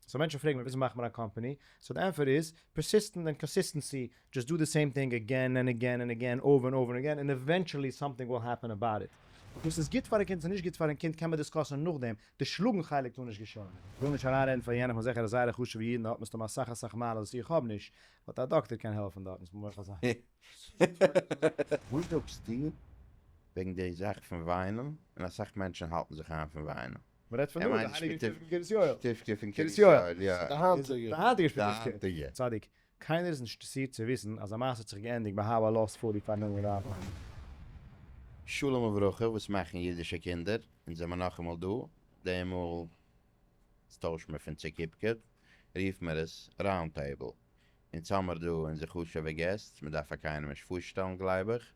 סאו מענטשן פרעגן מיר וויאזוי מאכט מען א קאמפאני? סאו די ענפער איז, פערסיסטענט ענד קאנסיסטענסי, דזשאסט דא די סעים טינג עגעין ענד עגעין ענד עגעין, אויבער ענד אויבער ענד עגעין, און עווענטשעלי סאמטינג וויל העפען אבאוט איט. וואס איז גוט פארן קינד צו נישט גוט פארן קינד קען מען דיסקאסען נאכדעם, די שלאגן חלק טאר נישט געשען. כ'וויל נישט אריינרעדן פאר יענעם, כ'בין זיכער אז זייערע חשוב'ע אידן האט מסתמא אסאך אסאך מעלות וואס איך האב נישט, באט א דאקטער קען העלפן דארטן ס'מוז מעך זיין. וואס זאגסטו וועגן די זאך פון וויינען, און אסאך מענטשן האלטן זיך איין פון וויינען? מען רעדט פון דא די הייליגע שטיבקע פון קרית יואל, שטיבקע פון קרית יואל, יא, די היינטיגע שטיבקע, צדיק, קיינער איז נישט אינטערסירט צו וויסן אז א מעשה האט זיך געענדיגט ביי הבה לא עשו לי פארן עליה רבה. שלום וברכה וואס מאכן אידישע קינדער? אונז זעמער נאכאמאל דא, דעמאל ס טוישט מען פון צוקיפקע רופט מער עס ראונד טעיבל, אונז האמער דא אונזער חשובע געסט, מען דארף פאר קיינעם נישט פארשטעלן גלייב איך,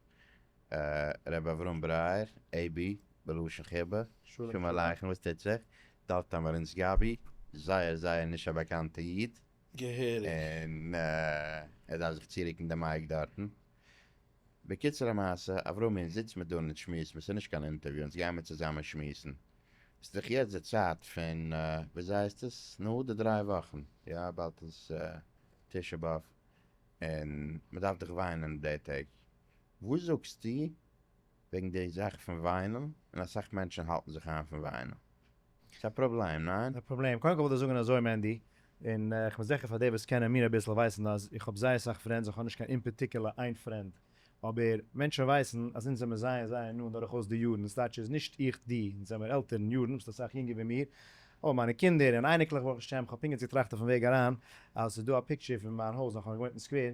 ר' אברהם ברייער, עה ב, בלשון חיבה, שלום עליכם וואס טוט זיך, דוד טאמארינץ גאבי, זייער זייער נישט א באקאנטע איד, און ער דארף זיך צוריקן די מייק דארטן, בקיצור המעשה, אברהמי זיץ מיר דא און אונז שמועסן, וואס איז נישט קיין אינטערוויו, אונז גיימיר צוזאמען שמועסן, ס'איז דאך יעצט די צייט פון וויאזוי הייסט עס, נו, די דריי וואכן, יא, באלד איז תשעה באב, און מ'דארף דאך וויינען די טעג. וואס זאגסטו וועגן די זאך פון וויינען? און אסאך מענטשען האלטן זיך איין פון וויינען. ס'איז א פראבלעם, ניין? א פראבלעם? קודם כל וואלט איך זאגען אזוי מענדי, און איך בין זיכער פאר די וואס קענען מיר אביסל ווייסען אז איך האב זייער סאך פרענדס, איך האב נישט קיין אין פארטיקעלע איין פרענד, אבער מענטשען ווייסען אז אונז זעמער זייער זייער נאנט דורך אויס די יארן, דאס דייטש איז נישט איך דו, אונז זעמער עלטער אין יארן, ביסט אסאך יונגער ווי מיר, אבער מיינע קינדער און אייניקלעך ברוך השם, איך האב פונקט יעצט געטראכט אויפן וועג אריין אז ס'איז דא א פיקטשער פון מיין הויז נאך איך האב געוואוינט אין סקווער,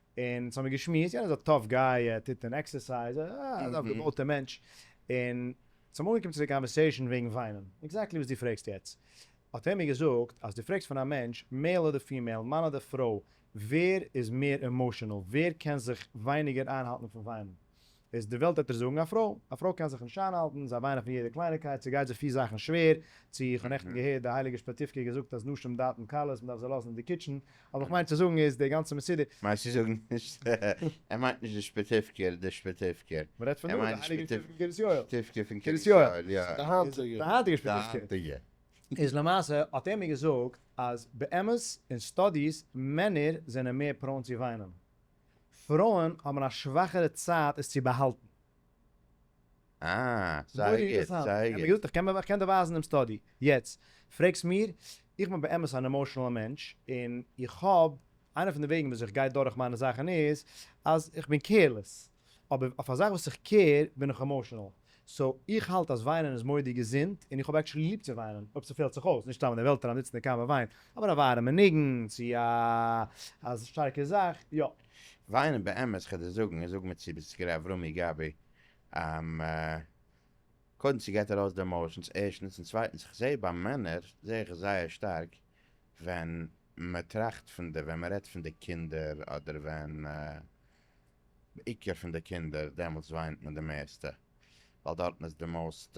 און אונז האמיר געשמועסט, יענער איז א טאף גיי, ער טוט און עקסערסייז, א געבויטע מענטש, און צום אנגעקומען צו די קאנווערסעישאן וועגן וויינען, עקזעקטלי וואס דו פרעגסט יעצט, האט ער מיר געזאגט אז דו פרעגסט פון א מענטש, מעיל אדער פימעיל, מאן אדער פרוי, ווער איז מער עמאשענעל, ווער קען זיך ווייניגער איינהאלטן פון וויינען, איז די וועלט וועט ער זאגן א פרוי, א פרוי קען זיך נישט איינהאלטן, זיי וויינען פון יעדע קלייניקייט, ס'גייט זיי פיל זאכן שווער, צו איך האב נעכטן געהערט די הייליגע שפעטיווקע האט געזאגט אז נשים דעתן קלות מ'דארף זיי לאזן אין די קיטשן, אבער כ'מיין צו זאגן איז די גאנצע מסודר. מיינסט צו זאגן נישט ער מיינט נישט די שפעטיווקער די שפעטיווקער, מ'רעדט פון ער דא, די מיינט די הייליגע שפעטיווקע פון קרית יואל, שפעטיווקע פון קרית יואל, יא, די היינטיגע, די היינטיגע שפעטיווקע, איז למעשה האט ער מיר געזאגט אז באמת אין סטאדיס מענער זענען מער פראון צו וויינען, פרויען האבן א שוואכערע צייט עס צו באהאלטן. אה, זייער גוט, זייער גוט. ענגליש, איך קען דיר ווייזן דעם סטאדי. יעצט פרעגסט מיר, איך בין באמת אן עמאושענעלע מענטש, און איך האב, איינע פון די וועגן וויאזוי איך גיי דורך מיינע זאכן איז, אז איך בין קעירלעס, אבער אויף א זאך וואס איך קעיר בין איך עמאושענעל. סאו איך האלט אז וויינען איז מודי געזונט, און איך האב עקטשולי ליב צו וויינען, אויב ס'פעלט זיך אויס, נישט סתם אין די וועלט אריין זיצן און קיינמאל וויין, אבער א ווארעמע ניגון, צו א א שטארקע זאך, יא. וויינען באמת כ'על דיר זאגן, און זאג מיר צו ביסט גערע אברומי גבי, אממ, קודם ס'געט ארויס די עמאושענס ערשטנס, און צווייטנס כ'זע ביי מענער זע איך עס זייער שטארק ווען מ'טראכט פון די ווען מ'רעדט פון די קינדער אדער ווען בעיקר פון די קינדער, דעמאלטס וויינט מען די מערסטע, ווייל דארטן איז די מאוסט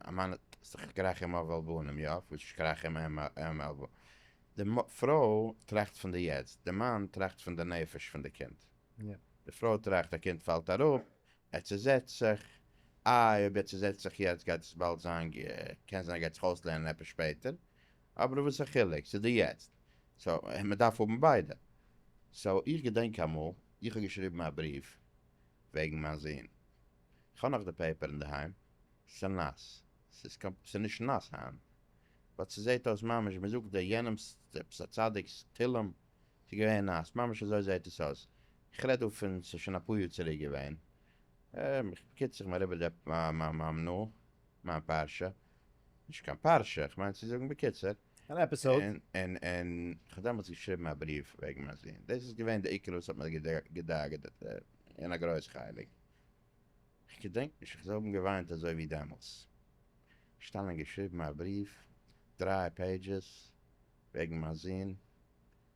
אמאנט סך כרכים אב על בנים, יא, פשוט שכרכים אם אם על בנים, די פרוי טראכט פון די יעצט, די מאן טראכט פון די נפש פון די קינד, די פרוי טראכט א קינד פאלט אראפ, ער צוזעצט זיך, איי אויב ער צוזעצט זיך יעצט גייט עס באלד זיין, קען זיין ער גייט זיך אויסלערנען עפעס שפעטער, אבער וואס א חילוק ס'איז דא יעצט, סאו מ'דארף האבן ביידע. סאו איך געדענק אמאל איך האב געשריבן א בריוו וועגן מיין זון, כ'האב נאך די פעיפער אינדערהיים, ס'נאס, ס'איז נישט נאס היינט, באט ס'זעהט אויס ממש מ'זאגט דער יענעמ'ס עפעס א צדיק'ס תהלים, ס'איז געווען נאס, ממש אזוי זעהט עס אויס, איך רעד דא פון ס'איז שוין אפאר יאר צוריק געווען, בקיצור כ'בין אריבער די פעיפער, מיין פרשה, נישט קיין פרשה, כ'מיין צו זאגן בקיצור. אן עפיסאוד. און און כ'האב דעמאלטס געשריבן א בריוו וועגן מיין זון, דאס איז געווען די עיקר וואס האט מיר געדאגה'ט אין א גרויס חלק. כ'געדענק נישט איך זאל האבן געוויינט אזוי ווי דעמאלטס. שטאנען געשריבן א בריוו, דריי פעידזשעס, וועגן מיין זון.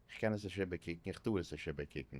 כ'קען עס נישט איבערקוקן, כ'טאר עס נישט איבערקוקן.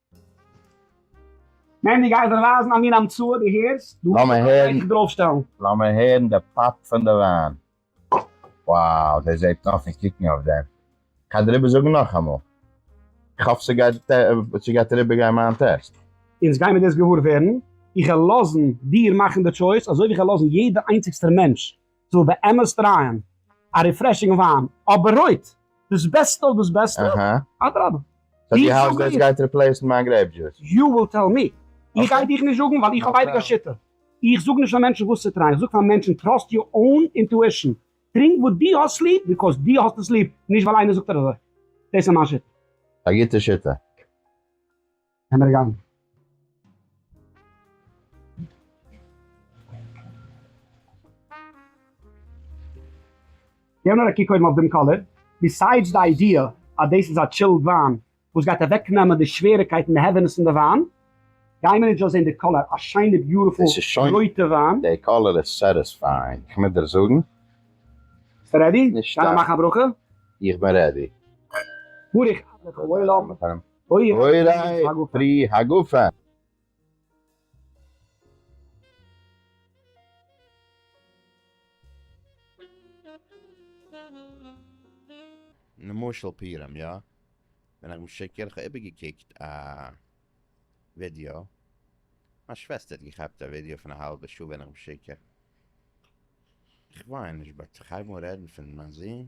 מענדי גייסט זיך ווייזן א מין המצאה דו הערסט? דו האסט עפעס א טייטש דערויף שטעלן? לאמיר הערן די פאפ פון די וויין. Wow דער זעט נאר פון קוקן אויף דעם. כ'האב דיר איבער זאגן נאכאמאל. כ'האף ס'גייט אריבער גיין מיין טעסט. אונז גיימער דאס געוואר ווערן, איך וועל לאזן דיר מאכן די טשויס אזוי ווי כ'וועל לאזן יעדע איינציגסטער מענטש זאל באמת טרייען א ריפרעשינג וויין, אבער רויט דאס בעסטע אויף דאס בעסטע, אדרבה. סאו דו האלטסט דאס גייט ריפלעיסן מיין גרעיפ דזשוס? יו וויל טעל מי. איך גיי דיך נישט זאגן ווייל איך האב אייביג א שיטה, איך זאג נישט פאר מענטשן וואס צו טרייען, איך זאג פאר מענטשן טראסט יור אוין אינטואישן, טרינק וואס דו האסט ליב ביקאוז דו האסט עס ליב, נישט ווייל איינער זאגט דיר אזוי. דאס איז מיין שיטה. א גוטע שיטה. קען ער גיין. געב נאר א קוק קודם אויף דעם קאליר. ביסיידס די איידיע אז דאס איז א טשילד וויין וואס גייט אוועקנעמען די שוועריקייט און די העווינעס פון די וויין, גייען מיר נישט דא זען די קאליר, א שיינע ביוטיפול רויטע וויין. די קאליר איז סעטיספייאינג, איך מוז דיר זאגן. ביסט רעדי? נישט סתם. גיי נאר מאכן א ברכה. איך בין רעדי. ברוך אדלער פון וואויל האבן. אורי פרי הגפן. נמשל פירם יא? בין איך משקר? כ'האב איבערגעקוקט א ווידיאו, מיין שוועסטער האט געכאפט א ווידיאו פון א האלבע שעה בין איך משקר? כ'וויין נישט באט כ'הייב אן רעדן פון מיין זון.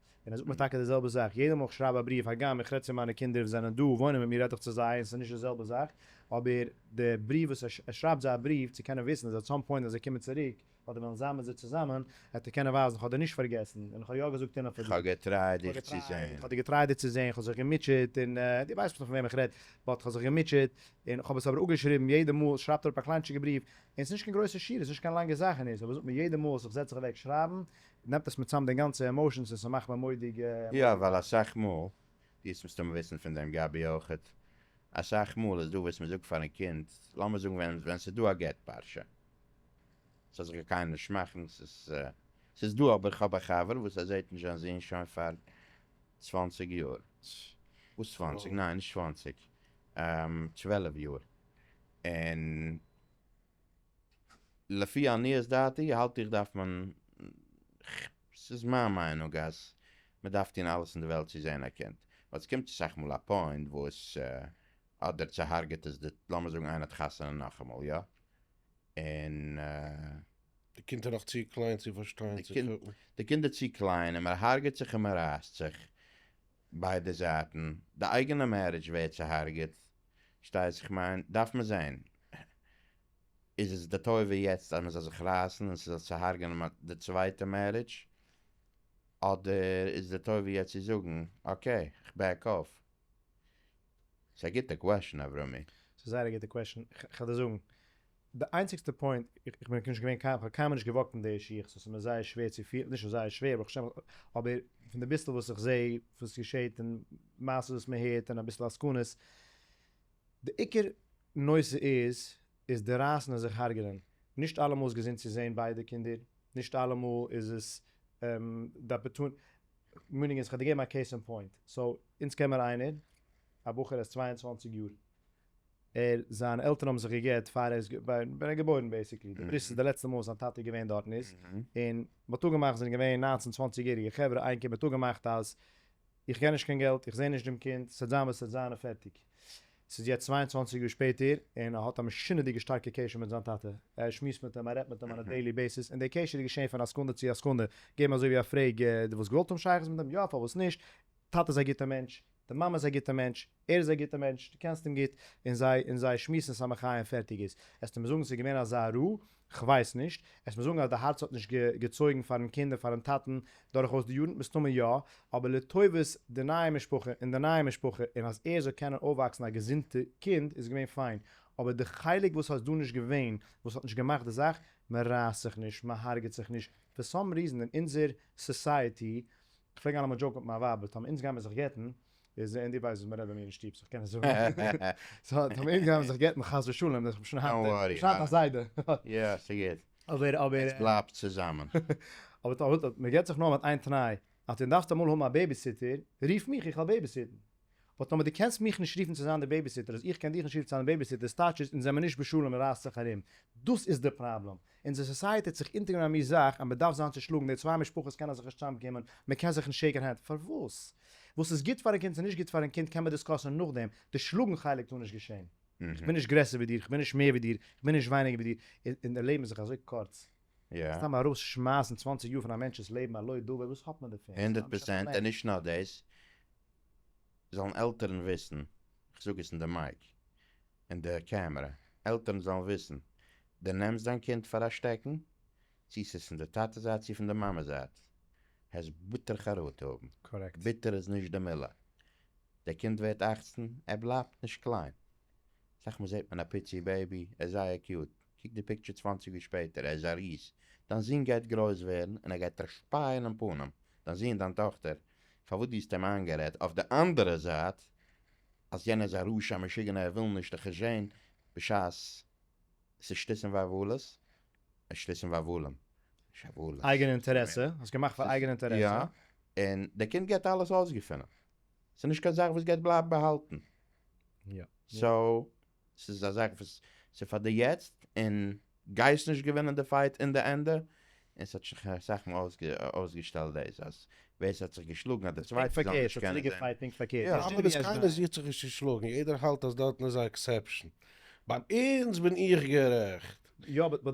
און ער זאגט מיר טאקע די זעלבע זאך יעדע מאל איך שרייב א בריוו הגם איך רעד צו מיינע קינדער וואס זענען דא וואוינען מיט מיר רעד איך צו זיי און עס איז נישט די זעלבע זאך אבער די בריוו וואס ער ער שרייבט זיי א בריוו צו קענען וויסן אז עט סאם פוינט ווען זיי קומען צוריק אדער וועלן זיין מיט זיי צוזאמען עט ער קענען ווייזן איך האב דיר נישט פארגעסן און איך האב יא געזאגט און איך האב געטרייט דיך צו זען. איך האב דיר געטרייט דיר צו זען איך האב זיך געמוטשעט און דו ווייסט פון וועם איך רעד באט איך האב זיך געמוטשעט און איך האב עס אבער אפגעשריבן יעדע מאל שרייבט ער אראפ א קליינטשיגע בריוו און עס איז נישט קיין גרויסע שורה עס איז נישט קיין לאנגע זאך און ער זאגט מיר יעדע מאל איך זעץ זיך אוועק שרייבן נעמט עס מיט צאם די גאנצע עמאושענס און ס'מאכט מיר מודיג. יא ווייל אסאך מאל, דו עסט מסתמא וויסן פון דעם גבי אויכעט, אסאך מאל איז דא וואס מ'זאגט פארן קינד, לאמיר זאגן ווען ווען ס'איז דא א גט פרשה, ס'זאל זיך קיין קיינער נישט מאכן, ס'איז דא אבער כ'האב א חבר וואס ער זעהט נישט זיין זון שוין פאר צוואנציג יאר, וואס צוואנציג, ניין נישט צוואנציג, צוועלף יאר, און לפי עניות דעתי האלט איך דארף מען, ס'איז מיין מיינונג אז מ'דארף טון אלעס אין די וועלט צו זען א קינד, ווייל ס'קומט אסאך מאל א פוינט וואס אדער צוהארגעט עס די, לאמיר זאגן איינער האט חתונה נאכאמאל יא? און. די קינד איז נאך צו קליין צו פארשטיין צו קוקן. די קינד איז צו קליין און מ'הארגעט זיך און מ'רייסט זיך, ביידע זייטן, די אייגענע מערידזש ווערט צוהארגעט, שטייטס איך מיין דארף מען זען איז עס די טובה יעצט אז מען זאל זיך רייסן און ס'זאל צוהארגענען די צווייטע מערידזש, אדער איז די טובה יעצט צו זאגן אקעי כ'בעק אף? ס'איז א גוטע קוועשן אברמי. ס'איז זייער א גוטע קוועשן, כ'על דיר זאגן, די איינציגסטע פוינט, איך בין נישט געווען קיין, כ'האב קיינמאל נישט געוואקט אין די שיך, סאו ס'איז מיר זייער שווער צו פיל, נישט זייער שווער ברוך השם, אבער פון די ביסל וואס איך זע וואס געשעט און מעשות וואס מען הערט און אביסל עסקנות, די עיקר נושא איז איז די רייסן און זיך הרג'ענען, נישט אלעמאל איז געזונט צו זען ביידע קינדער, נישט אלעמאל איז עס די אפערטוניטי, מיינונג איז, כ'האב דיר געגעבן א קעיס אין פוינט, סאו אונז קען מיר איינער, א בחור, ער איז צוויי און צוואַנציק יאר, ער זיינע עלטערן האבן זיך געגעט פאר ער איז געווארן ווען ער איז געבוירן בעיסיקלי די בריסט איז די לעצטע מאל וואס זיין טאטע איז געווען דארטן איז און באטאג געמאכט זענען געווען ניינצן צוואנציג יעריגע חברה איין קינד באטאג געמאכט אז איך קען נישט קיין געלט איך זעה נישט דעם קינד ס'וועט זיין וואס ס'וועט זיין און פערטיג ס'איז יעצט צוויי און צוואנציג יאר שפעטער און ער האט א משונה'דיגע שטארקע קשר מיט זיין טאטע ער שמועסט מיט אים ער רעדט מיט אים אן א דעילי בעיסיס און די קשר איז געשען פון א סעקונדע צו א סעקונדע געבן אזוי ווי א פרעג די וואלסט געוואלט האבן שייכות מיט אים יא פארוואס נישט טאטע איז א גוטע מענטש די מאמע איז א גוטע מענטש, ער איז א גוטע מענטש, דו קענסט אים גוט, און זיי און זיי שמועסן סתם א חיים פערטיג איז. עסטו מיר זאגן ס'איז געווען אזא רו? כ'ווייס נישט. עסט מיר זאגן אז די הארץ האט נישט געצויגן פארן קינד און פארן טאטן דורכאויס די יארן? מסתמא יא, אבער לטובת די נייע משפחה און די נייע משפחה און אז ער זאל קענען אויפוואקסן א געזונטע קינד איז געווען פיין, אבער די חלק וואס האט דא נישט געווען וואס האט נישט געמאכט די זאך, מ'רייסט זיך נישט, מ'הארגעט זיך נישט, פאר סאם ריזען אין אונזער סאסייעטי כ'פלעג היינט אמאל דזשאוקן מיט מיין ווייב, טאמער אונז גייען מיר זיך גט'ן, איז, און דו ווייסט וואס מ'רעדט ביי מיר אין שטוב, סאו כ'קען עס זאגן, סאו טאמער אונז גייען מיר זיך גט'ן חס ושלום, דאך כ'בין שוין היינט, דאך כ'בין שוין היינט א זיידע, יא, ס'גוט, אבער, אבער, עטס בלייבט צוזאמען. אבער, אבער, מ'גט זיך נאר מיט איין תנאי, אז דו דארפסט אמאל האבן א בעיביסיטער, רוף מיך, איך העל בעיביסיטן. באט טאמער דו קענסט מיך נישט רופן צו זיין די בעיביסיטער אז איך קען דיך נישט רופן צו זיין די בעיביסיטער איז טייטש איז אונז זעמער נישט בשלום און רייסט זיך ארום דאס איז די פראבלעם אונזער סאסייעטי האט זיך אונטערגענומען א מין זאך אז מען דארף זיין צושלאגן די צוויי משפחות קענען זיך נישט צוזאמקומען מען קען זיך נישט שעיקן הענט פארוואס וואס איז גוט פארן קינד צו נישט גוט פארן קינד קען מען דיסקאסען נאכדעם די שלאגן חלק טאר נישט געשען איך בין נישט גרעסער ווי דיר איך בין נישט מער ווי דיר איך בין נישט ווייניגער ווי דיר און די לעבן איז זיך אזוי קורץ. סתם ארויס שמייסן צוואנציג יאר פון א מענטש'ס לעבן על לא דבר וואס האט מען דערפון? הונדערט פראצענט און נישט נאר דאס, זאלן עלטערן וויסן, איך זאג עס אין די מייק, אין די קעמערע, עלטערן זאלן וויסן, די נעמסט דיין קינד פאר א שטעקן, צו ס'איז פון די טאטע זייט צו פון די מאמע זייט, העסט ביטער חרטה האבן, ביטער איז נישט די מילה, די קינד ווערט אכצן, ער בלייבט נישט קליין, סאך מאל זעט מען א פיצי בעבי, ער איז זייער קיוט, קוק די פיקטשער צוואַנציק יאר שפעטער, ער איז א ריז, דיין זון גייט גרויס ווערן און ער גייט דיך שפייען אין פנים, דיין זון, דיין טאכטער, פארוואס דו האסט אים איינגערעדט, אויף די אנדערע זייט אז יענער איז א רשע, א משוגענער, ער וויל נישט די חשבון, בשעת עס איז שטותים ועוולות, שטותים ועוולים, נישט עוולות, אייגענע אינטערעסע, האסט געמאכט פאר אייגענע אינטערעסע. יא, און דער קינד גייט אלעס אויסגעפינען, ס'איז נישט קיין זאך וואס גייט בלייבן באהאלטן, סאו ס'איז א זאך וואס ס'איז פאר די יעצט, און גייסט נישט געווינען די פייט אין די ענדע, און ס'האט זיך אסאך מאל אויסגעשטעלט דאס אז ווער ס'האט זיך געשלאגן אז די צווייטע זאל נישט קענען זען. יא, אבער וואס קיינער זוכט זיך נישט צו שלאגן, יעדער האלט אז דארטן איז א עקסעפשאן, ביי אונז בין איך גערעכט,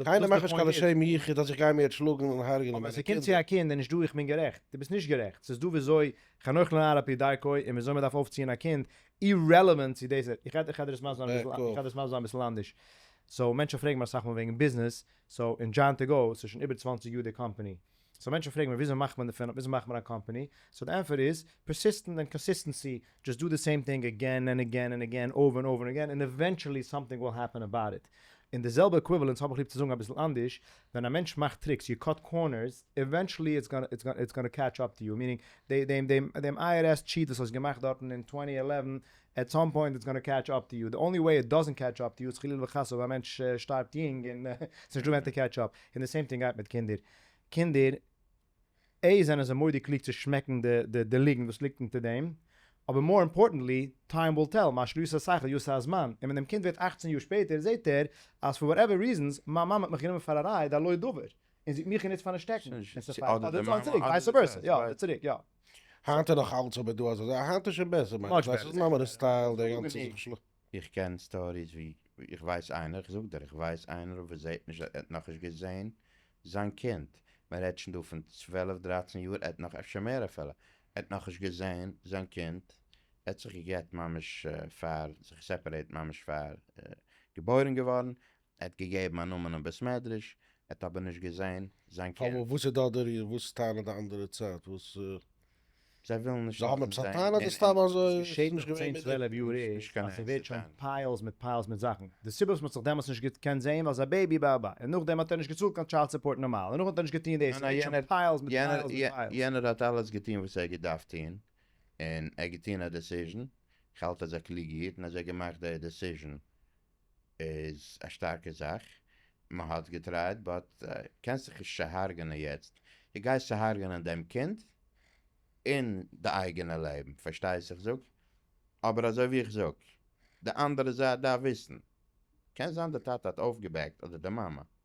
קיינער מאכט נישט קיין לשם יחוד אז איך גיי מיר יעצט שלאגן און הרג'נען מיינע קינדער. אבער ס'קומט צו א קינד און נישט דא איך בין גערעכט, דו ביסט נישט גערעכט, ס'איז דא וויאזוי חנוך לנער על פי דרכו, און וויאזוי מ'דארף אויפציען א קינד, אירעלעווענט צו דאס איך רעד איך רעד דאס מסביר זיין איך רעד דאס מסביר זיין אביסל אנדערש סאו מענטשן פרעגן מיר אסאך מאל וועגן ביזנעס סאו אין דזשאן טו גאו ס'איז שוין איבער צוואַנציק יאר די קאמפעני סאו מענטשן פרעגן מיר וויאזוי מאכט מען דערפון וויאזוי מאכט מען א קאמפעני סאו די ענפער איז פערסיסטענט און קאנסיסטענסי דזשאסט דא די סעים טינג עגעין און עגעין און עגעין אויבער און אויבער און עגעין און עווענטשעלי סאמטינג וויל העפען אבאוט איט און די זעלבע עקוויוועלענס האב איך ליב צו זאגן אביסל אנדערש ווען א מענטש מאכט טריקס, יו קאט קארנערס, עווענטשעלי איטס גאנא קעטש אפ טו יו, מיענינג דעם איי אר עס טשיט וואס האסט געמאכט דארטן אין טווענטי עלעווען, עט סאם פוינט איטס גאנא קעטש אפ טו יו, די אנלי וועי איט דאזענט קעטש אפ טו יו איז חלילה וחס אויב א מענטש שטארבט יונג און ס'נישט דא ווען צו קעטש אפ, און די סעים טינג גייט מיט קינדער, קינדער ע ז זענען זיי מודי קלוג צו שמעקן די די ליגנט וואס ליגט אונטער דעם, אבער מאר אימפארטענטלי, טיים וויל טעל, מה שלא יעשה שכל יעשה הזמן, און ווען דעם קינד ווערט אַכצן יאר שפעטער זעהט ער אז פאר וואטעווער ריזענס מיין מאמע האט מיך גענומען פאר א רייד על לא דבר, און זי האט מיך גענוצט פארן דערשטעקן, און ס'פארט אדער צו אן צוריק, ווייסע ווערסע, יא, אדער צוריק, יא. היינט איז נאך אלץ אבער דא אזא זאך, היינט איז שוין בעסער, מיינט עס אז מאמע איז טייל דער גאנצער זיך שלאגן. איך קען סטאריס ווי איך ווייס איינער, איך זאג דיר איך ווייס איינער וואס זעהט נישט ער האט נאכנישט געזעהן זיין קינד, מען רעדט שוין דא פון צוועלף דרייצן יאר ער האט נאך אפשר מער אפילו, ער האט נאכנישט געזעהן זיין קינד, ער האט זיך גע'גט ממש פאר זיך סעפערעיט ממש פאר געבוירן געווארן, ער האט געגעבן א נאמען אין בית מדרש, ער האט אבער נישט געזען זיין קינד. אבער וואס איז דא דער ריר? וואס טענה'ט די אנדערע צד? וואס. זיי ווילן נישט זיי האבן עפעס א טענה אדער סתם אזוי? עס איז נישט געווען מיט דעם. נישט געווען מיט דעם. עס ווערט שוין פיילס מיט פיילס מיט זאכן. די סיבה וואס מען האט זיך דעמאלטס נישט געקענט זעהן ווייל זיין בעיבי ב ב און נאכדעם האט ער נישט געצאלט קיין טשיילד סופארט נארמאל און נאכדעם האט ער נישט געטוהן דאס. עס ווערט שוין פיילס מיט פיילס מיט פיילס. יענער האט אלעס געטוהן וואס ער האט געדארפט טוהן און ער האט געטוהן א דעסיזשן, איך האלט אז א קלוגע איד, און אזוי געמאכט די דעסיזשן איז א שטארקע זאך, מ'האט געטרייט באט קענסט זיך נישט צוהארגענען יעצט, די גייסט צוהארגענען דעם קינד און די אייגענע לעבן, פארשטייסט איך זאג? אבער אזוי ווי איך זאג, די אנדערע זייט דארף וויסן, קען זיין די טאטע האט אויפגעבעקט אדער די מאמע,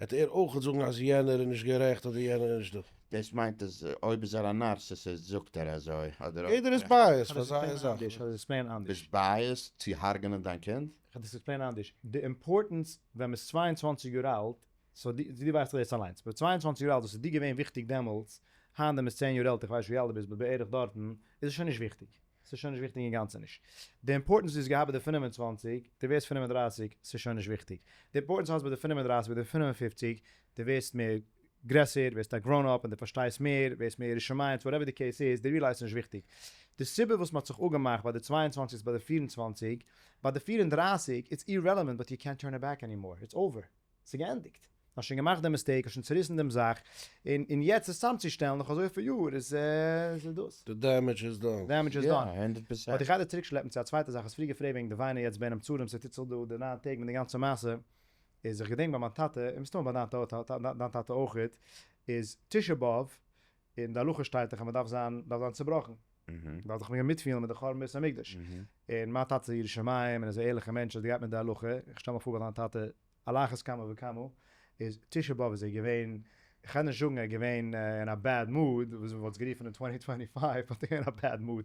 עט ער אויך זאגן אז יענער איז נישט גערעכט אדער יענער איז נישט דא. דאס מיינט אז אויב איז ער א נארסיסיסט זאגט ער אזוי אדער. יעדער איז בייעסד פאר זייער זאך. ביסט בייעסד צו הרג'נען דיין קינד? כ'וועל דאס עקספלעינען אנדערש. די אימפארטענס ווען מ'איז צוויי און צוואַנציק יאר אלט, סאו די די ווייסט דאך דאס אליינס, ביי צוויי און צוואַנציק יאר אלט וואס איז דיר געווען וויכטיג דעמאלטס, היינט ווען מ'איז צען יאר עלטער, כ'ווייס נישט ווי אלט דו ביסט באט בערך דארטן, איז עס שוין נישט וויכטיג. ס'איז שוין נישט וויכטיג אינגאנצן נישט די אימפארטענס דו האסט געהאט ביי די פֿינף און צוואַנציק, דו ווערסט פֿינף און דרײַסיק, ס'איז שוין נישט וויכטיג די אימפארטענס האסט ביי די פֿינף און דרײַסיק, ביי די פֿינף און פֿופֿציק, דו ווערסט מער גרעסער, ווערסט א גראון אפ און דו פארשטייסט מער, ווערסט מער ירא שמים, וואטעווער די קעיס איז, דו ריעלייזסט ס'נישט וויכטיג. די סיבה וואס מ'האט זיך אפגעמאכט ביי די צוויי און צוואַנציק איז ביי די פֿיר און צוואַנציק, ביי די פֿיר און דרײַסיק, איטס אירעלעווענט באט יו קענט טורן איט בעק ענימאר, איטס אווער. ס'געענדיגט. האסט שוין געמאכט דעם מיסטעיק, האסט שוין צוריסן דעם זאך, און און יעצט עס צאמצושטעלן נאך אזויפיל יאר איז איז דאס. די דעמעדזש איז דאן. דעמעדזש איז דאן. אבער דיך איידער צוריקשלעפן צו א צווייטע זאך, האסט פריער געפרעגט וועגן די וויינען יעצט בין המצרים צו תצל דא די ניין טעג מיט די גאנצע מעשה, איז איך געדענק ביי מיין טאטע, און מסתמא ביי דיין טאטע אויך, איז תשעה באב אין די הלכה שטייט דאך אז מען דארף זיין דארף זיין צובראכן, מען דארף זיך מעגן מיטפילן מיט די חורבן בית המקדש, און מיין טאטע איז ירא שמים און איז א ערליכע מענטש אז ער גייט מיט די הלכה, איך שטעל מיך פאר ביי דיין טאטע על אחת כמה וכמה, איז תשעה באב איז ער געווען, איך קען נישט זאגן ער איז געווען אין א בעד מאד, וואס מען וואלט עס גערופן אין צוואנציג טווענטי פייוו, באט ער איז געווען אין א בעד מאד.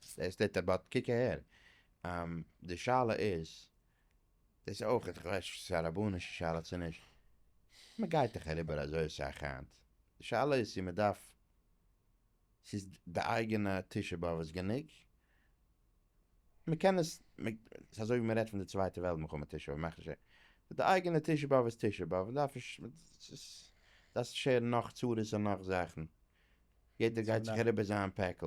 עס טוט א באט קוק אהער, די שאלה איז, דאס איז אויך, איך ווייס נישט צו ס'איז א רבנישע שאלה צו נישט, מ'גייט דאך אריבער אזוי אסאך היינט, די שאלה איז צו מ'דארף, צו איז די אייגענע תשעה באב איז גענוג, מ'קען עס, ס'איז אזוי ווי מ'רעדט פון די צווייטע וועלט מלחמה תשעה באב, מאכט נישט אויס, די אייגענע תשעה באב איז תשעה באב, מ'דארף נישט, דארפסט נישט הערן נאך צרות און נאך זאכן, יעדער גייט זיך אריבער זיין פעקל.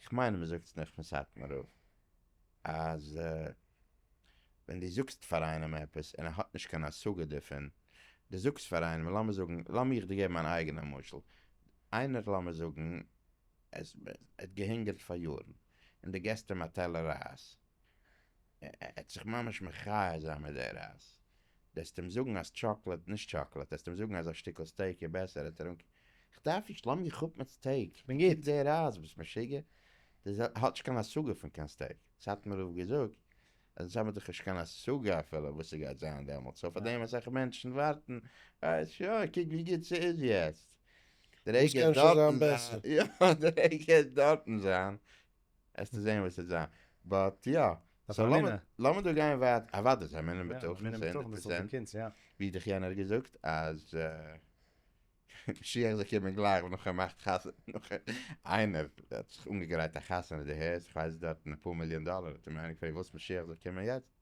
איך מיין מען זאגט נאך פון סאטמאר רב אז ווען דו זאגסט פאר איינעם עפעס און ער האט נישט קיין השגה דערפון, דו זאגסט פאר איינעם, לאמיר זאגן, לאמיר איך דיר געבן אן אייגענע משל, איינער לאמיר זאגן עס ער האט געהונגערט פאר יארן און דו געסט אים א טעלער רייז, ער האט זיך ממש מחיה זיין מיט די רייז. דארפסט אים זאגן אז טשאקלעד, נישט טשאקלעד, דארפסט אים זאגן אז א שטיקל סטעיק איז בעסער, האט ער אנגע. כ'דארף נישט, לאז מיך אפ מיט סטעיק, כ'בין גוט מיט די רייז, ביסט משוגע? די ז ל האט נישט קיין השגה פון קיין סטעיק, סאטמאר רב געזאגט אז אונז האבן דאך נישט קיין השגה אפילו וואס ס'גייט זיין דעמאלט, סאו פאר דעם אסאך מענטשן ווארטן, ווייל שוין קוק ווי גוט ס'איז יעצט, די רגע דארטן זיין, יא די רגע דארטן זיין. העסטו זעהן וואס ס'וועט זיין. באט יא. סאו לאמיר דא גיין ווייטער. אוודאי זיי מינען בטוחים. מינען בטוחים דאס איז די קינץ יא. ווי דיך יענער געזאגט אז משיח זאל קומען גלייך נאך ער מאכט חתונה נאך איינער האט זיך אנגעגרייט א חתונה די הערסט איך ווייס דארטן אפאר מיליאן דאלער האט אים איינער געפרעגט ווילסט משיח זאל קומען יעצט?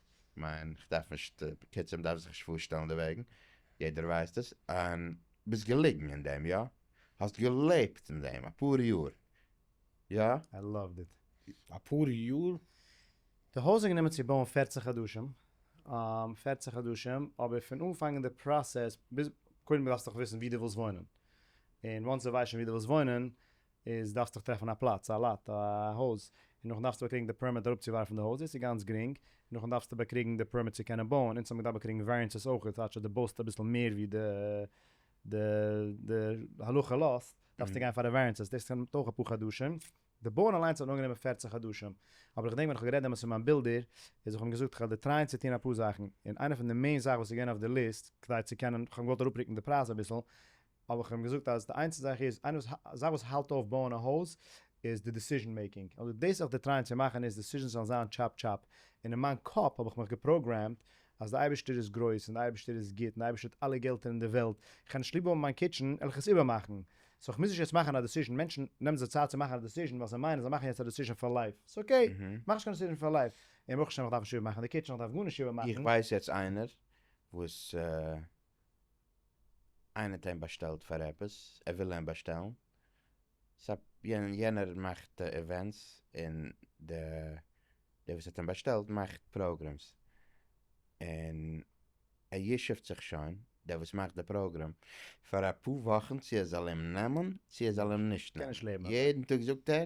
כ'מיין איך דארף נישט, בקיצור מ'דארף זיך נישט פארשטעלן דערוועגן, יעדער ווייסט עס, און ביסט געליגן אין דעם, יא? האסט געלעבט אין דעם אפאר יאר, יא? איי לאווד איט. אפאר יאר? די הויז איז גענומען צו בויען פערציג חדשים, פערציג חדשים, אבער פון אנפאנגען די פראסעס, ביז, קודם דארפסט דאך וויסן ווי דו ווילסט וואוינען, און וואנס דו ווייסט שוין ווי דו ווילסט וואוינען, איז דארפסט דיך טרעפן א פלאץ, א לאט, א הויז, און נאכדעם דארפסטו באקריגן די פערמיט אראפצואווארפן די הויז, דאס איז גאנץ גרינג, און נאכדעם דארפסטו באקריגן די פערמיט צו קענען בויען, אונז האבן געדארפט באקריגן וועריענסעס אויכעט, כאטש אז דו בויסט אביסל מער ווי די די די הלכה לאזט, דארפסטו גיין פאר די וועריענסעס, דאס נעמט אויך אפאר חדשים, די בויען אליינס האט אנגענומען פֿערצן חדשים, אבער איך געדענק ווען איך האב גערעדט דעמאלטס מיט מיין בילדער, איז איך האב אים געזאגט איך וועל דיר טרייען צו טון אפאר זאכן, און איינע פון די מעין זאכן וואס איז געווען אויף די ליסט, כדי צו קענען, איך האב געוואלט אראפרוקן די פרייז אביסל, אבער כ'האב אים געזאגט אז די איינציגסטע זאך איז, איינע זאך וואס האלט אויף בויען א הויז איז די דיסיזשען מעיקינג, און דאס זיך דערטרייען צו מאכן איז דיסיזשענס זאלן זיין טשאפ טשאפ, און אין מיין קאפ האב איך מיך געפראגרעמד אז די אייבערשטער איז גרויס, און די אייבערשטער איז גוט, און די אייבערשטער האט אלע געלטער אין די וועלט, איך האב נישט ליב האבן מיין קיטשען, עלעך עס איבערמאכן, סאו כ'מוז נישט יעצט מאכן א דיסיזשען, מענטשן נעמען זיך צייט צו מאכן א דיסיזשען ווייל זיי מיינען זיי מאכן יעצט א דיסיזשען פאר לייף, ס'איז אקעי, מאך נישט קיין דיסיזשען פאר לייף, און ברוך השם איך דארף נישט איבערמאכן די קיטשען, איך דארף גארנישט איבערמאכן. איך ווייס יעצט איינער וואס. איינער האט איהם באשטעלט פאר עפעס, ער וויל איהם באשטעלן, סא יענער מאכט די איווענטס און די דער וואס האט איהם באשטעלט מאכט פראגרעמס, און ער ישוב'ט זיך שוין, דער וואס מאכט די פראגרעם, פאר אפאר וואכן צו ער זאל איהם נעמען צו ער זאל איהם נישט נעמען, יעדן טאג זאגט ער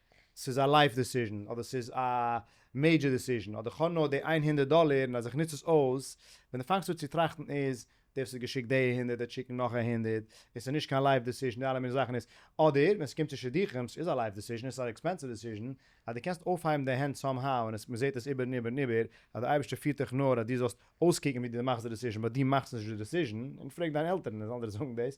ס'איז א לייף דעסיזשן אדער ס'איז א מעידזשער דעסיזשן אדער כ'האב נאר די איין הונדערט דאלער און אז איך נוץ עס אויס, ווען די פאנגסט אן צו טראכטן איז דער וואס האט געשיקט די הונדערט וועט שיקן נאך א הונדערט און ס'איז נישט קיין לייף דעסיזשן די אלע מיני זאכן איז אדער ווען ס'קומט צו שידוכים ס'איז א לייף דעסיזשן און ס'איז א עקספענסיוו דעסיזשן אז די קענסט אויפהייבן די הענט סאם האו און עס מ'זעט עס איבער און איבער און איבער אז די אייבערשטער פירט דיך נאר אז דו זאלסט אויסקוקן ווי דו מאכסט די דעסיזשן באט דו מאכסט נישט די דעסיזשן און פרעג דיין עלטערן און זאלן דיר זאגן דאס.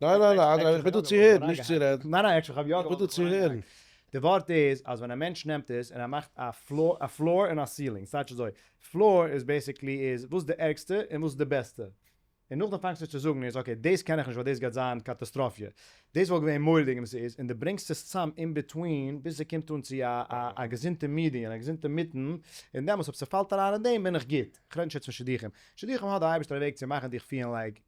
ניין ניין ניין אדרבה איך בין דא צו הערן נישט צו רעדן. ניין ניין איך האב יא געוואלט צו הערן. די ווארט איז אז ווען א מענטש נעמט עס און ער מאכט א פלאר און א סילינג ס'טייטש אזוי פלאר איז בעסיקלי איז וואס די ערגסטע און וואס די בעסטע און נאכדעם פאנגסטו צו זאגן איז אקעי דאס קען איך נישט ווייל דאס גייט זיין קאטאסטראפיע דאס וואלט געווען מורא'דיג און ס'איז און די ברענגסט עס צאם אין ביטווין ביז ס'קומט אן צו א געזונטע מידיען א געזונטע מיטן און דעמאלס אויב ס'פאלט אריין אין דעם בין איך גוט כ'רעד נישט יעצט פון שידוכים שידוכים האט די אייבערשטער א וועג צו מאכן דיך פילן לייק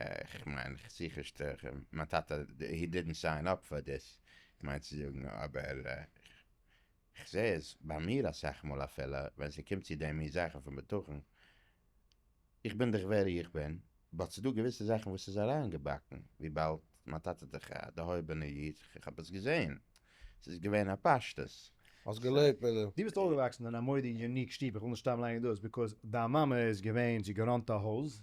איך מיין כ'זיך שטערן מיין טאטע הי דידנט סיין אפ פאר דיס כ'מיין צו זאגן אבער כ'זעה עס ביי מיר אסאך מאל אפילו ווען ס'קומט צו די מין זאכן פון בטחון איך בין דאך ווער איך בין באט ס'דא געוויסע זאכן וואס איז אריינגעבאקן וויבאלד מיין טאטע איז דאך א דערהויבענע איד כ'האב עס געזעהן ס'איז געווען א פשטות. האסט געלעבט מיט דעם? דו ביסט אויפגעוואקסן אין א מודי יוניק שטוב, איך וויל נישט סתם ליינען דאס ביקאוז דיין מאמע איז געווען זי געראנט א הויז.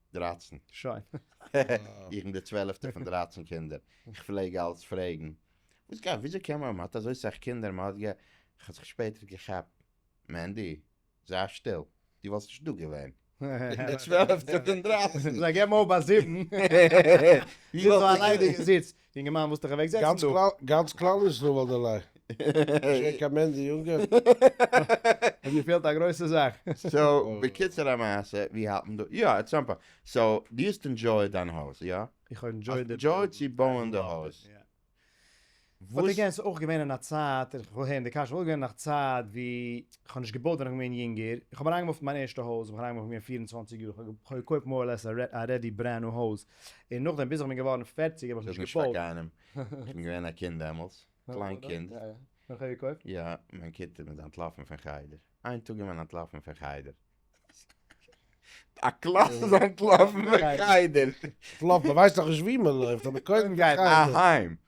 דרײַצן. שוין. איך בין דער צוועלעפטער פון דרײַצן קינדער. איך פלעג אלץ פרעגן, וואס גייט, וויאזוי קען מען, מען האט אזוי סאך קינדער, מען האט גע. איך האב זיך שפעטער געכאפט, מענדי, זיי שטיל, דו וואלסט נישט דא געווען. איך בין דער צוועלעפטער פון דרײַצן. זיי געבן אויף ביי זיבן. דו וואלסט נישט דא געווען. זיץ. יונגערמאן ווילסט דיך אוועק זעצן דא? גאנץ כלל ישראל וואלט דיר ליי. נישט געווען קיין מענטש די יונגע. האט געפעלט א גרויסע זאך. סאו בקיצור המעשה ווי האלט מען דא? יא עט סאם פאר. סאו דו האסט ענדזשויעד דיין הויז יא? איך האב ענדזשויעד די. ענדזשויעד צו בויען די הויז. באט אגעין ס'איז אויך געווען אין א צייט, איך וויל הערן די קשיא, ס'איז אויך געווען אין א צייט ווי איך האב נישט געבויט ווען איך בין געווען יונגער, איך האב אריינגעמופט מיין ערשטע הויז ווען איך אריינגעמופט ווען איך בין געווען פֿיר און צוואַנציק יאר, איך האב געקויפט מער אר לעס א רעדי ברענד ניו הויז, און נאכדעם ביז איך בין געווארן פֿערציק האב איך נישט געפאלגט. איך האב נישט פאר קיינעם, איך בין געווען א קינד דעמאלטס, קליין קינד. ווען כ'האב געקויפט? יא, מיין כיתה מ'איז אנטלאפן פון חדר. איין טאג איז מען אנטלאפן פון חדר. א קלאס איז אנטלאפן פון חדר. אנטלאפן, מ'ווייסט נאכנישט וואו מ'לויפט, אבער קודם גייט מען אהיים.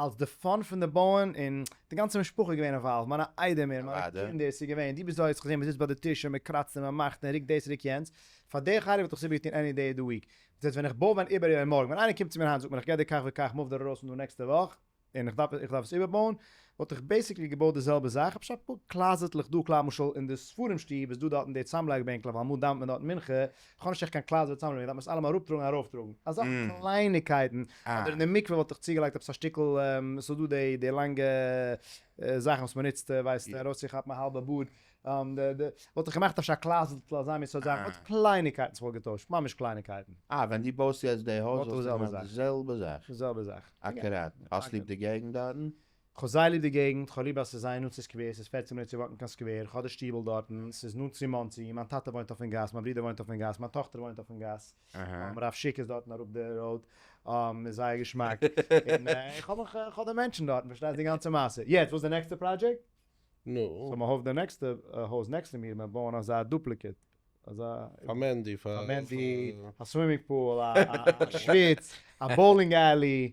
אלס די פאן פון די בויען און די גאנצע משפחה איז געווען אינוואלווד, מיינע איידעמער, מיינע קינדער, ס'איז געווען, דו ביסט דא, האסט געזען מ'זיצט ביי די טיש און מ'קראצט און מ'מאכט און ריקט דאס ריקט יענץ, פאר די חרוב וואלט איך עס איבער געטון עני דעי אוו די וויק, ביז יעצט ווען איך בוי ווען איבער איבער מארגן, ווען איינער קומט צו מיר היינט זאגט מיר איך גיי דיר כך וכך מוו דיר ארויס פון דא נעקסטע וואך און איך דארף איך דארף עס איבער בויען, וואלט איך בעיסיקלי געבויט די זעלבע זאך, אפשר אפאר קלאזעטלעך דא, כלומרשל אין די ספרים שטוב איז דא דארטן די צאמלייג בענקלעך ווייל אמאל דאווענט מען דארטן מנחה, כ'האב נישט עכט קיין קליידער ווי צוזאמנעמען, דארף מען עס אלעמאל אראפטראגן און ארויפטראגן, אזא קלייניגקייטן, אדער אין די מקווה וואלט איך צוגעלייגט עפעס א שטיקל, ס'איז דא די די לאנגע זאכן וואס מ'נוצט ווייסט ארויסצוכאפן א האלבע בארד, וואלט איך געמאכט אפשר א קלייזלטל אזא מין סארט זאך, אט קלייניגקייטן וואס כ'וואלט געטוישט, ממש קלייניגקייטן. אה, ווען דו בויסט יעצט די הויז וואלסטו געמאכט די זעלבע זאך? די זעלבע זאך. אקוראט. האסט ליב די געגנט דארטן? כ'האב זייער ליב די געגנט, כ'האב ליב אז ס'איז זייער נאנט צו סקווער, ס'איז פֿערצן מינוט צו וואקן קיין סקווער, כ'האב די שטיבל דארטן, ס'איז נאנט צו מאנסי, מיין טאטע וואוינט אויפן גאס, מיין ברודער וואוינט אויפן גאס, מיין טאכטער וואוינט אויפן גאס, רב שיק איז דארטן אראפ די ראוד, איז זייער געשמאק, און איך האב מיך, כ'האב די מענטשן דארטן, פארשטייסט די גאנצע מעשה, יעצט וואס איז די נעקסטע פראדזשעקט? סאו מ'הויפט די נעקסטע הויז נעקסט צו מיר, מיר בויען אזא דופליקעט, אזא, פאר מענדי, פאר מענדי, א סווימינג פול, א שוויץ, א באולינג עלי,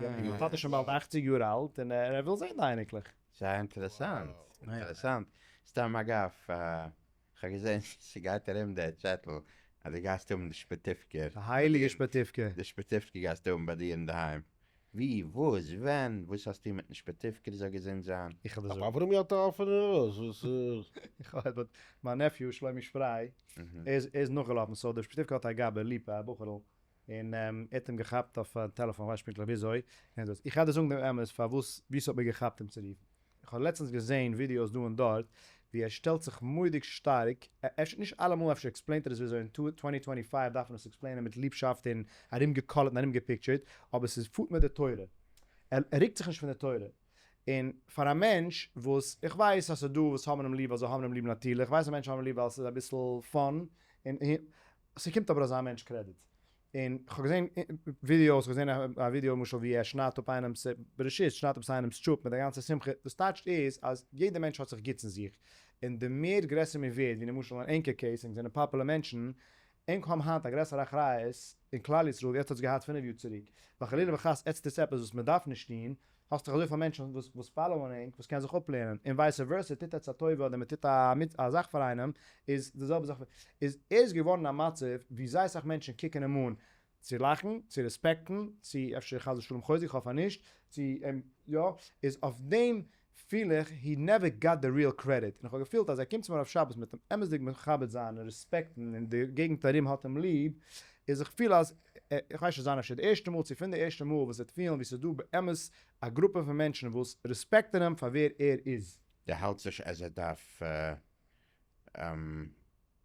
מיין טאטע איז שוין באלד אכציג יאר אלט און ער וויל זען די אייניקלעך. סאיז אינטערעסאנט, אינטערעסאנט, סתם אגב, כ'האב געזען ס'גייט ארום די צעטל אז די גייסט האבן די שפעטיפקער. די הייליגע שפעטיפקע. די שפעטיפקע גייסטו האבן ביי דיר אינדערהיים. ווי? וואס? ווען? וואס האסטו מיטן שפעטיפקער זאל געזונט זיין. איך האב די זאגן. אברמי האט א אפענע נאז וואס איז. איך האב באט מיין נעפיו שלומי שפריי ער איז נאכגעלאפן סאו די שפעטיפקע האט א גאבע, ליפא, א בחור'ל. און ער האט אים געכאפט אויפן טעלעפאן כ'ווייס נישט פונקטליך וויאזוי און דאס. איך גיי דיר זאגן דעם אמת פארוואס ווי ס'האט מיר געכאפט אים צו רופן. איך האב לעצטנס געזעהן ווידיאוס דא און דארט ווי ער שטעלט זיך מורא'דיג שטארק, אפשר נישט אלעמאל אפשר עקספלעינט ער עס וויאזוי אין טווענטי טווענטי פייוו דארף מען עס עקספלעינען מיט ליבשאפט און ארומגעקאלעט און ארומגעפיקטשערט, אבער ס'איז פארט מיט די תורה. ער רוקט זיך נישט פון די תורה. און פאר א מענטש וואס, איך ווייס אז ס'דא וואס האבן אים ליב ווייל זיי האבן אים ליב נאטירליך, איך ווייס אז מענטשן האבן אים ליב ווייל ס'איז אביסל פאן און ס'קומט אבער אזא מענטש קרעדיט. און כ'האב געזען ווידיאוס, כ'האב געזען א ווידיאו למשל ווי ער שניידט אפ איינעמ'ס בראשית, שניידט אפ איינעמ'ס טשופ מיט א גאנצע שמחה, וואס טייטשט איז אז יעדער מענטש האט זיך גוטס אין זיך, און די מער גרעסער מען ווערט, ווי למשל אין ענקער קעיס, ענק זענען פאפולער מענטשן, ענק האבן היינט א גרעסערע אחריות אין כלל ישראל ווי עטץ האטס געהאט פינף יאר צוריק, ווייל חלילה וחס עטץ טוט עפעס וואס מען דארף נישט טון, האסט דאך אזויפיל מענטשן וואס וואס פאלאוען ענק וואס קען זיך אפלערנען, און ווייסע ווערסע טוט עטץ א טובה אדער מען טוט א א זאך פאר איינעם איז די זעלבע זאך איז ער איז געווארן א מצב ווי זייער אסאך מענטשן קוקן אים אן צו לאכן צו רעספעקטן צו אפשר חס ושלום חוזק איך האף אז נישט צו אים יא איז אויף דעם פיל איך הי נעווער גאט די ריעל קרעדיט און איך האב געפילט אז ער קומט צו מיר אויף שבת מיט אים אמת'דיג מכבד זיין און רעספעקטן און די געגנט ארום האט אים ליב איז איך פיל אז איך ווייס נישט זיין אפשר די ערשטע מאל צו פון די ערשטע מאל וואס ער וועט פילן ווי ס'איז דא באמת א גרופע פון מענטשן וואס רעספעקטן אים פאר ווער ער איז. די האלטס נישט אז ער דארף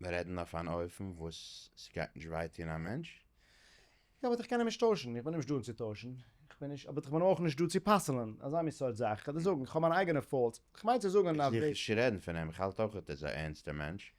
רעדן אויף אן אופן וואס ס'גייט נישט וויי טון א מענטש? יא באט איך קען אים נישט טוישן, איך בין נישט דא אים צו טוישן, איך בין נישט, באט איך בין אויך נישט דא צו פסל'ן אזא מין סארט זאך, איך קען דיר זאגן איך האב מיינע אייגענע פאולטס, איך מיין צו זאגן אז די. איך זיך נישט צו רעדן פון אים, איך האלט אויך אז ער איז א ערנסטער מענטש.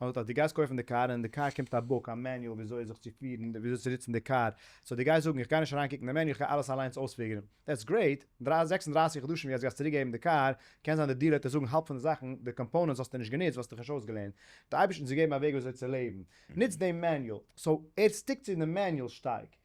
מען זאגט אז דו גייסט קויפן די קאר און אין די קאר קומט א בוק, א מעניועל וויאזוי זיך צו פירן, וויאזוי צו ניצן די קאר, סאו דו גייסט זאגן איך גיי נישט אריין קוקן די מעניועל איך גיי אלעס אליינס אויספיגערן, דעטס גרעיט, זעקס און דרײַסיק חדשים ווי אז דו גייסט צוריק געבן די קאר, קען זיין די דיעלער וועט דיר זאגן האלב פון די זאכן, די קאמפאונענטס האסטו נישט גענוצט, וואלסט דיך נישט אויסגעלערנט, די אייבערשטן צו געבן א וועג וויאזוי צו לעבן, נוץ דעם מעניועל, סאו ער סטיקט צו דעם מעניועל שטארק.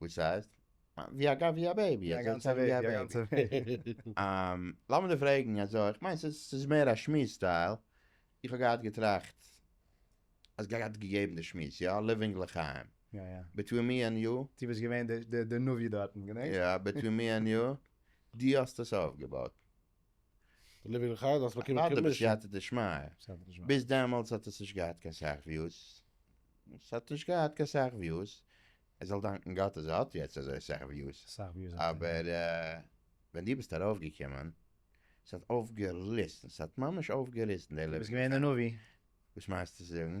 וואס הייסט? ווי א גאווי א בעיבי א גאנצע וועג א גאנצע וועג. אהמ, לאמיר דיר פרעגן אזוי, איך מיין ס'איז ס'איז מער א שמועס סטייל, איך האב געהאט געטראכט אז גאט האט געגעבן די שמועס, יא, ליווינג לחיים, יא יא, ביטווין מי ענד יו, דו ביסט געווען די די נביא דארטן, געדענקסט? יא, ביטווין מי ענד יו, דו האסט עס אויפגעבויט. די ליווינג אין חדר האסט באקומען קעמישע. אדרבה בסייעתא דשמיא, ביז דעמאלטס האט עס נישט געהאט קיין סאך וויוס, עס האט נישט געהאט קיין סאך וויוס, ער זאל דאנקן גאט אז ער האט יעצט אזוי סאך וויוס, אבער ווען דו ביסט ארויפגעקומען, עס האט אויפגעריסן, עס האט ממש אויפגעריסן די ליווינג אין חדר. דו ביסט געווען די נביא. וואס מיינסטו צו זאגן?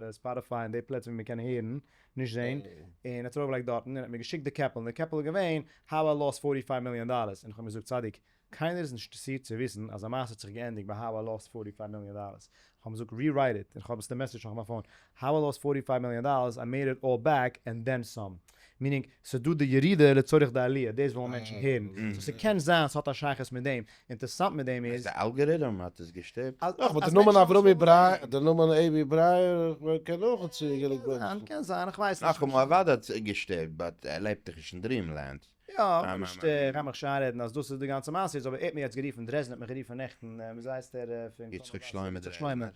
די ספאטיפיי און די פלעצער ווי מען קען הערן, נישט זעהן, און ער האט עס ארויפגעלייגט דארטן, און ער האט מיר געשיקט די קעפל, און די קעפל איז געווען, How I lost פֿארטי פֿייוו מיליאן דאללערס, און איך האב אים געזאגט צדיק, קיינער איז נישט אינטערעסירט צו וויסן אז א מעשה האט זיך געענדיגט ביי How I lost פֿארטי פֿייוו מיליאן דאללערס, איך האב אים געזאגט רירייט איט, און איך האב עס די מעסעדזש נאך אין מיין פאון, How I lost פֿארטי פֿייוו מיליאן דאללערס, I made it all back, and then some. מיענינג ס'איז דא די ירידה לצורך די עליה, דאס ווילן מענטשן הערן, סאו ס'קען זיין ס'האט א שייכות מיט דעם, אינטערסאנט מיט דעם איז. די אלגעריטם האט עס געשטופט? נאך וואס די נאמען אברומי ברייער, די נאמען עיבי ברייער קען אויך האט צו גענוג בוימס. קען זיין, איך ווייס נישט. נאכאמאל אוודאי האט עס געשטופט, באט ער לעבט דאך נישט אין דריעם לענד. יא, כ'בין נישט, כ'גיי מיך נישט איינרעדן אז דאס איז די גאנצע מעשה איז, אבער ער האט מיר יעצט גערופן, דרעזדן האט מיך גערופן נעכטן, וויאזוי הייסט ער פון קאמארנאט? יצחק שלמה דרעזדנער.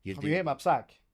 כ'האב געגעבן א פסק.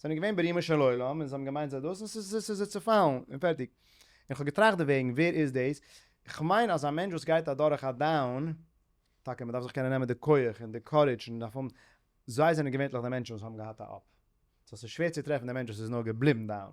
זענען געווען ברומו של עולם און זיי האבן געמיינט זיי דאס און ס'איז זיי צעפאלן און פערטיג. און כ'האב געטראכט דערוועגן, ווער איז דאס? כ'מיין אז א מענטש וואס גייט אדורך א דאון, טאקע מ'דארף זיך קענען נעמען די כח און די קארידזש און מ'דארף האבן, זיי זענען געווענטליך די מענטשן וואס האבן געהאט א אפ. סאו ס'איז שווער צו טרעפן די מענטש וואס איז נאר געבליבן דאון.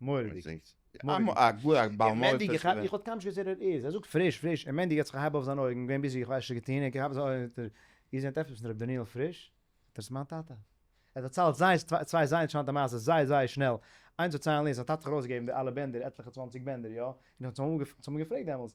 מורא'דיג. מורא'דיג. איך האב קיינמאל נישט געוואוסט ווער ער איז. ער זאגט פריש פריש. און מורא'דיג האט זיך געהייבט אויף זיין אויגן. געווען ביזי, איך ווייס נישט וואס ער האט געטון. און איך האב. איר זענט עפעס פון ר' דניאל פריש? זאגט ער, ס'איז מיין טאטע. ער האט דערציילט זייער צוויי זייער אינטערעסאנטע מעשה'ס זייער זייער שנעל. איינס דערציילן איז, זיין טאטע האט ארויסגעגעבן די אלע בענדער, עטליכע צוואנציג בענדער, יא. און איך האב צו אים געפרעגט דעמאלס,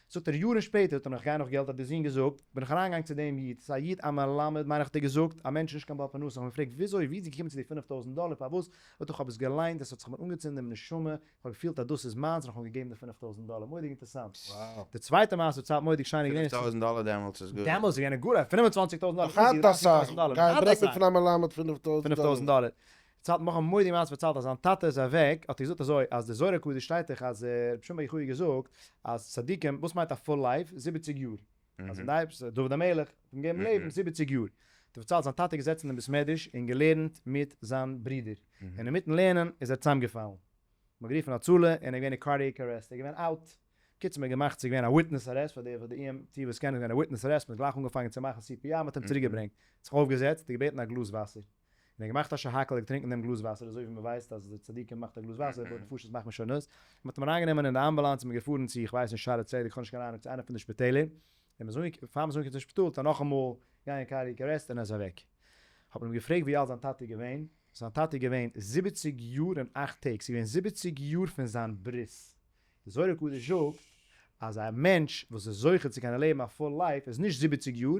זאגט ער יארן שפעטער טון איך גיין נאך געלט האט דער זון געזאגט בין איך אריינגעגאנגען צו דעם איד ס'איז א איד א מלמד מיין איך האט ער געזאגט א מענטש נישט קיין בעל פרנסה איך האב אים געפרעגט וויאזוי ווי איז געקומען צו די פֿינף טויזנט דאלער פארוואס זאגט ער איך האב עס געליינט עס האט זיך מיר אנגעצינדן דעם נשמה איך האב געפילט אז דאס איז מיינס און איך האב אים געגעבן די פֿינף טויזנט דאלער מורא'דיג אינטערסאנט די צווייטע מעשה וואס צייט מורא'דיג שיין איז געווען פֿינף טויזנט דאלער דעמאלטס איז גאר דעמאלטס איז געווען גאר פֿינף און צוואַנציק טויזנט דאלער איך האלט אסאך גייען רעדן פון א מלמד פֿינף טויזנט דאלער. צייט נאך האבן מודי מעש פארציילט אז זיין טאטע איז אוועק האט ער געזאגט אזוי אז די זוהר הקדוש שטייט דאך אז רבי שמעון בר יוחאי האט געזאגט אז צדיקים וואס מיינט א פול לייף זיבעציג יאר אז אין די דוד המלך האט אים געגעבן לעבן זיבעציג יאר האט ער פארציילט זיין טאטע איז געזעצן אין בית מדרש און געלערנט מיט זיין ברודער און אינמיטן לערנען איז ער צוזאמגעפאלן מ'האט גערופן הצלה און ער איז געווען אין קארדיעק ארעסט ער איז געווען אוט בקיצור מ'האט געמאכט ס'איז געווען א וויטנעס ארעסט פאר די די אי עם טי וואס קענען איז געווען א וויטנעס ארעסט מ'האט גלייך אנגעפאנגען צו מאכן סי פי אר מ'האט אים צוריקגעברענגט זיך אויפגעזעצט און געבעטן א גלאז וואסער. און ער האט געמאכט א שהכל געטרינקן דעם גלאז וואסער אזוי ווי מען ווייסט אז די צדיקים מאכט א גלאז וואסער פאר נפשות מאכט מען שונות, מען האט אים אריין גענומען אין די אמבולאנס און מען געפארן צו איך ווייס נישט שערי צדק איך האב נישט קיין אהנונג צו איינע פון די שפיטעלער, און מען איז פאר מען איז אנגעקומען צום שפיטאל טאר נאכאמאל גיין קארדיעק ארעסט און ער איז אוועק, האט מען אים געפרעגט ווי אלט זיין טאטע איז געווען, זיין טאטע איז געווען זיבעציג יאר און אכט טעג, ס'איז געווען זיבעציג יאר פון זיין ברית, די זוהר הקדוש זאגט אז א מענטש וואס איז זוכה צו קענען לעבן א פול לייף איז נישט זיבעציג יאר,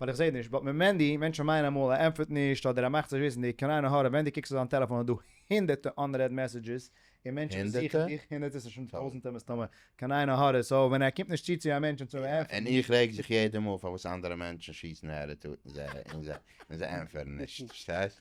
ווייל איך זעה נישט, באט מיט מענדי, מענטשן מייען אמאל ער ענטפערט נישט אדער ער מאכט זיך וויסענדיג, קאן איין הערה, ווען די קוקסט אויף דיין טעלעפאן איז דא הינדערטע אנרעד מעסעדזשעס און מענטשן וואס זיכן הונדערטע? דיך, הונדערטע ס'איז שוין טויזענטע מסתמא, קאן איין הערה, סאו ווען ער קומט נישט צו צו א מענטש און צו יא, ענטפערן. און איך רעג זיך יעדע מאל פארוואס אנדערע מענטשן שיסן הערעטאטן זיי און זיי ענטפערן נישט, פארשטייסט?